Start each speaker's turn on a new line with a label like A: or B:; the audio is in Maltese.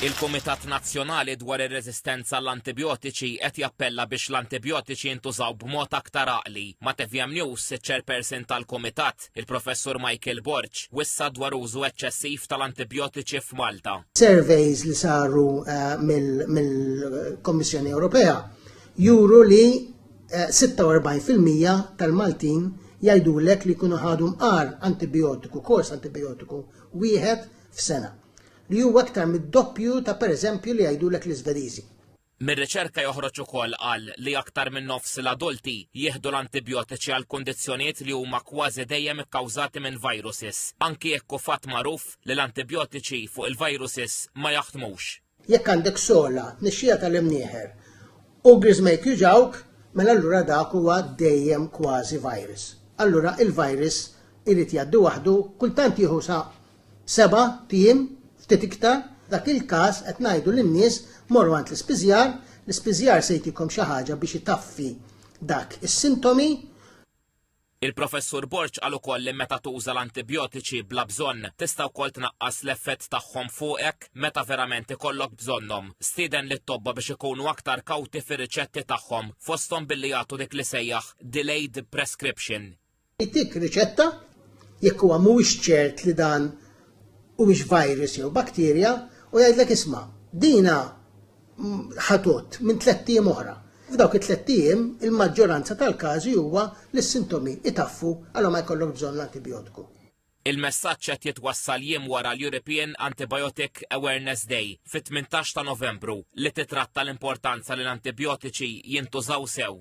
A: Il-Kumitat Nazzjonali dwar ir-Reżistenza għall-Antibjotiċi qed jappella biex l-antibjotiċi jintużaw b'mod aktar għaqli. Ma' TVM News, iċ-Chairperson tal-Kumitat, il-Professur Michael Borg, wissa dwar użu eċċessiv tal-antibjotiċi f'Malta. Surveys li
B: saru eh, mill-Kommissjoni Ewropea juru li 46 fil-mija tal-Maltin jgħidulek li jkunu ħadu mqar antibijotiku, kors antibijotiku, wieħed f'sena, li huwa aktar mid-doppju ta' pereżempju li jgħidulek l-Iżvediżi. Mir-riċerka
A: joħroġ ukoll qal li aktar minn nofs l-adulti jieħdu l-antibijotiċi għal kundizzjonijiet li huma kważi dejjem ikkawżati minn viruses, anki jekk hu fatt magħruf li l-antibijotiċi fuq il-viruses ma jaħdmux. Jekk għandek
B: sola, tnixxija tal-imnieħer, u griżmejk juġgħuk, mela allura dak huwa dejjem kważi virus. Allura il-virus irid jgħaddi waħdu, kultant jieħu sa seba' tiem, ftit iktar, f'dak il-każ qed ngħidu lin-nies morru għand l-ispiżjar, l-ispiżjar se jtikom xi ħaġa biex itaffi dak is-sintomi,
A: Il-Professur Borg qal ukoll li meta tuża l-antibjotiċi bla bżonn tista' wkoll tnaqqas l-effett tagħhom fuqek meta verament ikollok bżonnhom. Stieden lit-tobba biex ikunu aktar kawti fir-riċetti tagħhom, fosthom billi jagħtu dik li sejjaħ delayed prescription. Jtik
B: riċetta, jekk huwa mhuwiex ċert li dan huwiex virus jew bakterja, u jgħidlek isma', dina ħatot minn tlett ijiem oħra. F'dawk it-tlett ijiem, il-maġġoranza tal-każi huwa li s-sintomi itaffu għala ma jkollokx bżonn l-antibijotku. Il-messaġġ
A: qed jitwassal jiem wara l-European Antibiotic Awareness Day fit-tmintax ta' Novembru li titratta l-importanza li l-antibijotiċi jintużaw sew.